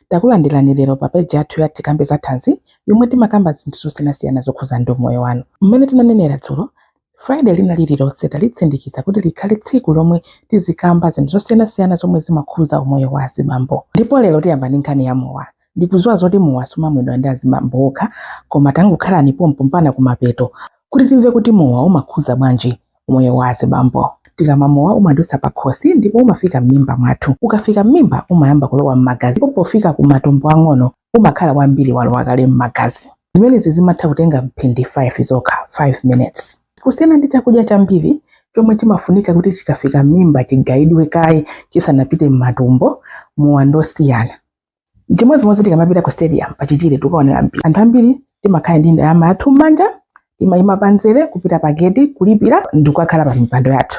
Takulandirani lero pa page yathu ya Tikambe za Thanzi yomwe timakamba zinthu zosiyanasiyana zokhuza ndi umoyo wanu. Mmene tinanenera dzulo, Friday lina lililonse talitsindikiza kuti likhale tsiku lomwe tizikamba zinthu zosiyanasiyana zomwe zimakhuza umoyo wa azibambo. Ndipo lero tiyamba ndi nkhani ya mowa. Ndikudziwa zoti mowa sumamwedwa ndi azibambo okha koma tangokhalani pompo mpana kumapeto kuti timve kuti mowa umakhuza bwanji umoyo wa azibambo. Tikamwa mowa umadutsa pakhosi ndipo umafika m'mimba mwathu. Ukafika m'mimba umayamba kulowa m'magazi ndipo pofika ku matumbo ang'ono umakhala wambiri walowa kale m'magazi. Zimenezi zimatha kutenga mphindi 5 zokha, 5 minutes. Kusiyana ndi chakudya chambiri chomwe chimafunika kuti chikafika m'mimba chigayidwe kaye chisanapite m'matumbo, mowa ndosiyana. Chimodzimodzi tikamapita ku stadium pa chichire tukaonera mpira, anthu ambiri timakhala ndi ndalama yathu m'manja timayima panzere kupita pa gate kulipira ndi kukakhala pa mipando yathu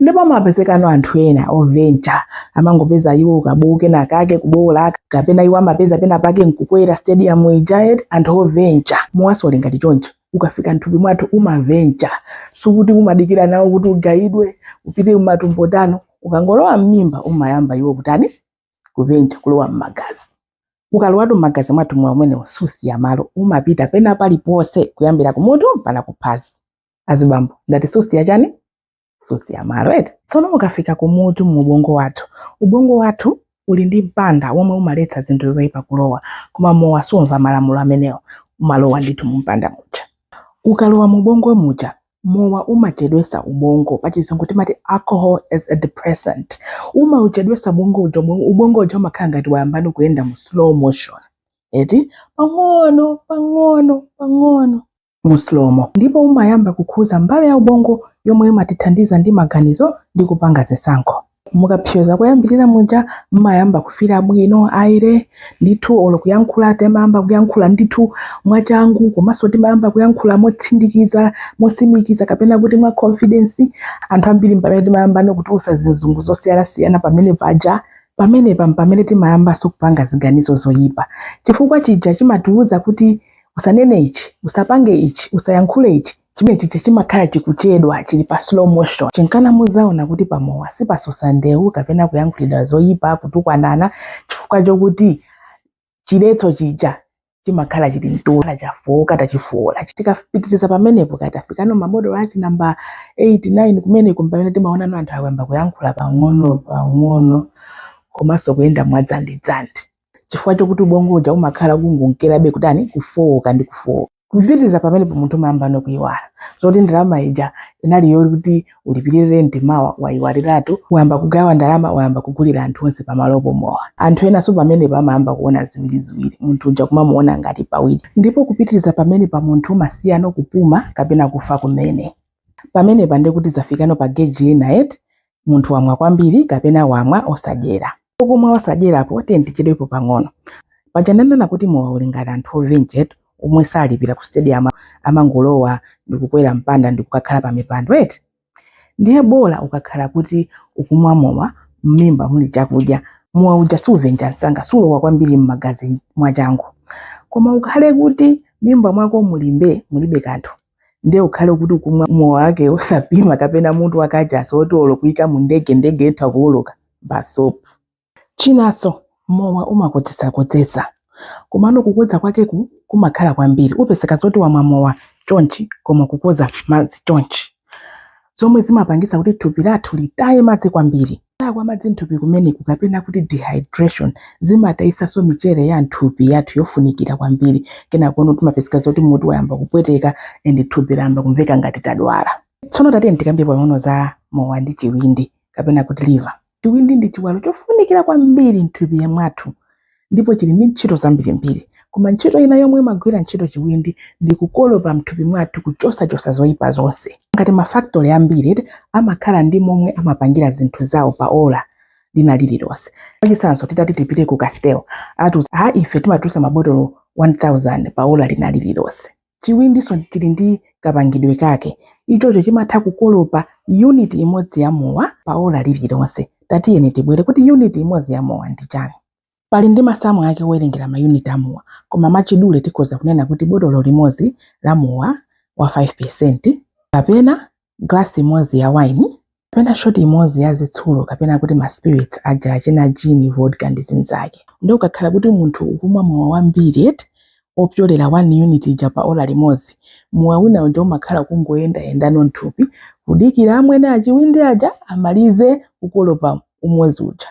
ndipo amapezekano anthu ena ovencha amangopeza iwo kabowo kena kake kubowola kapena iwo amapeza pena pake nkukwera stadium ija eti anthu ovencha mowaso uli ngati choncho ukafika nthupi mwathu umavencha sikuti umadikira nawo kuti ugayidwe upite kumatumbo tano ukangolowa m'mimba umayamba iwo kutani kuvencha kulowa m'magazi ukalowatu m'magazi mwathu mowa umenewo susiya malo umapita pena paliponse kuyambira kumutu mpana kuphazi azibambo ndati susiya chani susiya malo eti tsono ukafika kumutu mu ubongo wathu ubongo wathu uli ndi mpanda womwe umaletsa zinthu zoyipa kulowa koma mowa sumva malamulo amenewo umalowa ndithu mu mpanda muja ukalowa mu ubongo muja mowa umachedwesa ubongo pachizungu timati alcohol is a depressant umauchedwesa ubongo uja ubongo- ubongo uja umakhala ngati wayambano kuyenda mu slow motion eti pang'ono pang'ono pang'ono mu slow mo ndipo umayamba kukhuza mbali ya ubongo yomwe imatithandiza ndi maganizo ndi kupanga zisankho Mukapsyoza koyambirira muja mmayamba kufila bwino aire ndithu olo kuyankhula timayamba kuyankhula ndithu mwachangu komanso timayamba kuyankhula motsindikiza mosimikiza kapena kuti mwa confidence anthu ambiri mpamene timayambano kutulusa zizungu zosiyanasiyana pamene paja pamenepa mpamene timayambanso kupanga ziganizo zoyipa chifukwa chija chimatiwuza kuti usanene ichi usapange ichi usayankhule ichi chimene chija chimakhala chikuchedwa chili pa slow motion chinkana muzaona kuti pamowa sipasosa ndewu kapena kuyankhulidwa zoyipa kutukwanana chifukwa chokuti chiletso chija chimakhala chili mtulo chafowoka tachifowola tikapitiriza pamenepo kaya tafikano mabotolo achi namba 8 9 kumeneko mpamene timaonano anthu akuyamba kuyankhula pang'ono pang'ono komanso kuyenda mwadzandidzandi chifukwa chokuti ubongo uja umakhala ukungonkerabe kutani kufooka ndi kufooka kupitiriza pamenepo munthu umayamba nokuyiwala zoti ndalama ija inali yokuti ulipirire renti mawa wayiwaliratu wayamba kugawa ndalama wayamba kugulira anthu onse pamalopo mowa anthu enanso pamenepo amayamba kuona ziwiriziwiri munthu uja kumamuona ngati pawiri ndipo kupitiriza pamenepo munthu umasiyano kupuma kapena kufa kumene pamenepa ndikuti zafikano pa geji ina eti munthu wamwa kwambiri kapena wamwa osadyera. Kumwa osadyerapo tiyeni tichedwepo pang'ono. Paja ndanena kuti mowa uli ngati anthu ovenja eti omwe salipira ku stadium amangolowa ndikukwera mpanda ndikukakhala pa mipando eti. Ndiye bola ukakhala kuti ukumwa mowa mmimba muli chakudya mowa uja suvenja msanga sulowa kwambiri mmagazi mwachangu. Koma ukhale kuti mmimba mwako mulimbe mulibe kanthu ndiye ukhale kuti ukumwa mowa wake osapima kapena mutu wa kachasu oti olo kuyika mu ndege ndege itha kuwuluka basopu chinanso mowa umakodzesakodzesa komano kukodza kwake kumakhala kwambiri upezeka zoti wamwa mowa chonchi koma kukodza madzi chonchi zomwe zimapangitsa kuti thupi lathu litaye madzi kwambiri Kutaya kwa madzi m'thupi kumeneku kapena kuti dehydration zimatayitsanso mchere ya m'thupi yathu yofunikira kwambiri. Kenakono timapezeka zoti mutu wayamba kupweteka and thupi layamba kumveka ngati tadwala. Tsono tatiyeni tikambe pang'ono za mowa ndi chiwindi kapena kuti liver. Chiwindi ndi chiwalo chofunikira kwambiri m'thupi mwathu. ndipo chili ndi ntchito zambirimbiri koma ntchito ina yomwe imagwira ntchito chiwindi ndi kukolopa mthupi mwathu kuchotsachotsa zoyipa zonse ngati mafactory ambiri amakhala ndi momwe amapangira zinthu zawo pa ola lina lililonse pachitsanzo titati tipite ku castel atiuza ife timatulusa mabotolo 1000 pa ola lina lililonse Chiwindinso chili ndi kapangidwe kake. Ichocho chimatha kukolopa unit imodzi ya mowa pa ola lililonse. Tatiyeni tibwere kuti unit imodzi ya mowa ndi chani. Palinso masamu ake owerengera ma unit a mowa, koma mwachidule tikhoza kunena kuti botolo limodzi la mowa wa 5% kapena glasi imodzi ya wine kapena shoti imodzi ya zitsulo kapena kuti ma spirits aja achina gin vodka ndi zinzake nde ukakhala kuti munthu ukumwa mowa wambiri eti opyolera 1 unit ija pa ola limodzi mowa wina uja umakhala ukungoyendayendano mthupi kudikira amwene achiwindi aja amalize kukolopa umodzi uja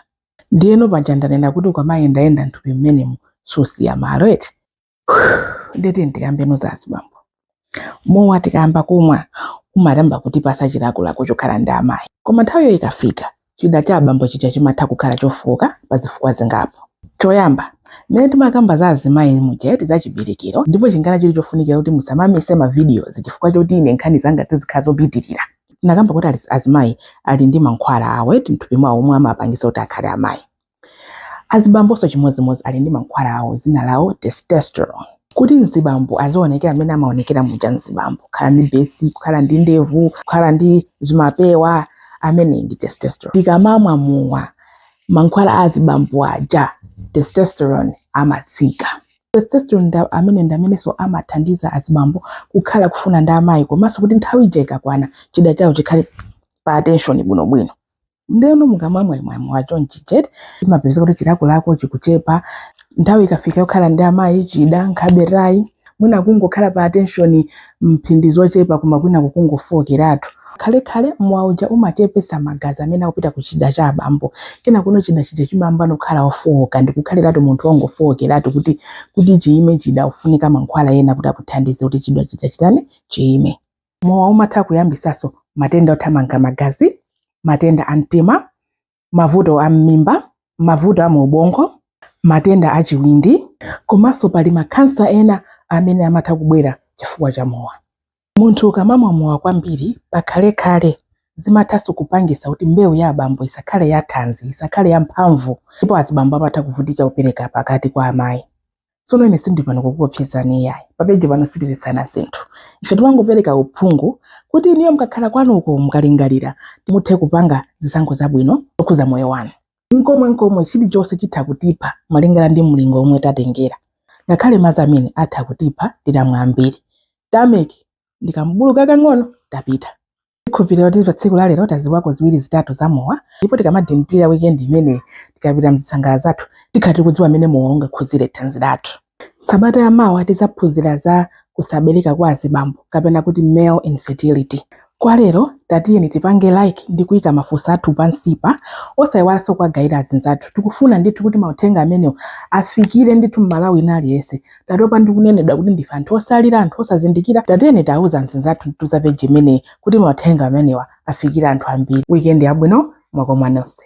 ndiyeno paja ndanena kuti ukamayendayenda mthupi mmenemu susiya malo eti nde tatiyeni tikambeno za azibambo mowa tikayamba kumwa umayamba kutipatsa chilakolako chokhala ndi amayi koma nthawiyo ikafika chida cha abambo chija chimatha kukhala chofooka pa zifukwa zingapo choyamba mmene timakamba za azimayi muja eti za chiberekero ndipo nchifukwa chake chili chofunikira kuti musamamise mavidiyozi chifukwa choti ine nkhani zanga zizikhala zopitirira tinakamba kuti azimayi ali ndi mankhwala awo eti mthupi mwawo omwe amapangitsa kuti akhale amayi Azibambonso chimodzimodzi ali ndi mankhwala awo dzina lawo testosterone. Kuti mzibambo azionekera mmene amaonekera muja mzibambo, kukhala ndi besi, kukhala ndi ndevu, kukhala ndi zimapewa, amene ndi testosterone. Tikamamwa mowa, mankhwala a azibambo aja testosterone amatsika. Testosterone ameneyu ndi amenenso amathandiza azibambo kukhala kufuna ndi amayi komanso kuti nthawi ija ikakwana chida chawo chikhale pa attention bwinobwino. ndeno mukamwamwamwamwa chonchi jet imapeza kuti chilakolako chikuchepa nthawi ikafika yokhala ndi amayi chida nkhabe ayi mwina kungokhala pa attention mphindi zochepa koma kwina kukungofowokeratu khalekhale mowa uja umachepesa magazi amene akupita ku chida cha abambo kena kuno chida chija chimayambano kukhala chofowoka ndikukhaliratu munthu wongofowokeratu kuti kuti chiyime chida ufunika mankhwala ena kuti akuthandize kuti chida chija chitani chiyime mowa umatha kuyambisanso matenda othamanga magazi matenda a mtima mavuto a mmimba mavuto a mu ubongo matenda a chiwindi komanso pali makhansa ena amene amatha kubwera chifukwa cha mowa munthu ukamamwa mowa kwambiri pakhalekhale zimathanso kupangisa kuti mbewu ya abambo isakhale ya thanzi isakhale ya mphamvu ndipo azibambo amatha kuvutika kupereka pakati kwa amayi tsono ine sindili pano kukuopsezani iyayi papeji pano sitiletsana zinthu ife timangopereka uphungu kuti inuyo mukakhala kwanuko mukalingalira muthe kupanga zisankho zabwino zokhuza moyo wanu nkomwe nkomwe chilichonse chitha kutipha malingana ndi mlingo omwe tatengera ngakhale madzi amenewa atha kutipha titamwa ambiri titameza ndi kambalu kakang'ono tapita Ndikhulupirira kuti patsiku la lero taziwako ziwiri zitatu za mowa ndipo tikamadikirira weekend imeneyi tikapita mzisangalalo zathu tikhala tikudziwa mmene mowa ungakhuzire thanzi lathu. Sabata ya mawa tizaphunzira za kusabereka kwa azibambo kapena kuti male infertility. Kwa lero tatiyeni tipange like ndi kuika mafunso athu pansipa osayiwalanso kuwagaira azinzathu. Tikufuna ndithu kuti mauthenga amenewa afikire ndithu Mmalawi wina aliyense tatopa ndi kunenedwa kuti ndife anthu otsalira anthu osazindikira tatiyeni tiuze azinzathu za peji imeneyi kuti mauthenga amenewa afikire anthu ambiri weekend yabwino ndakomwa nonse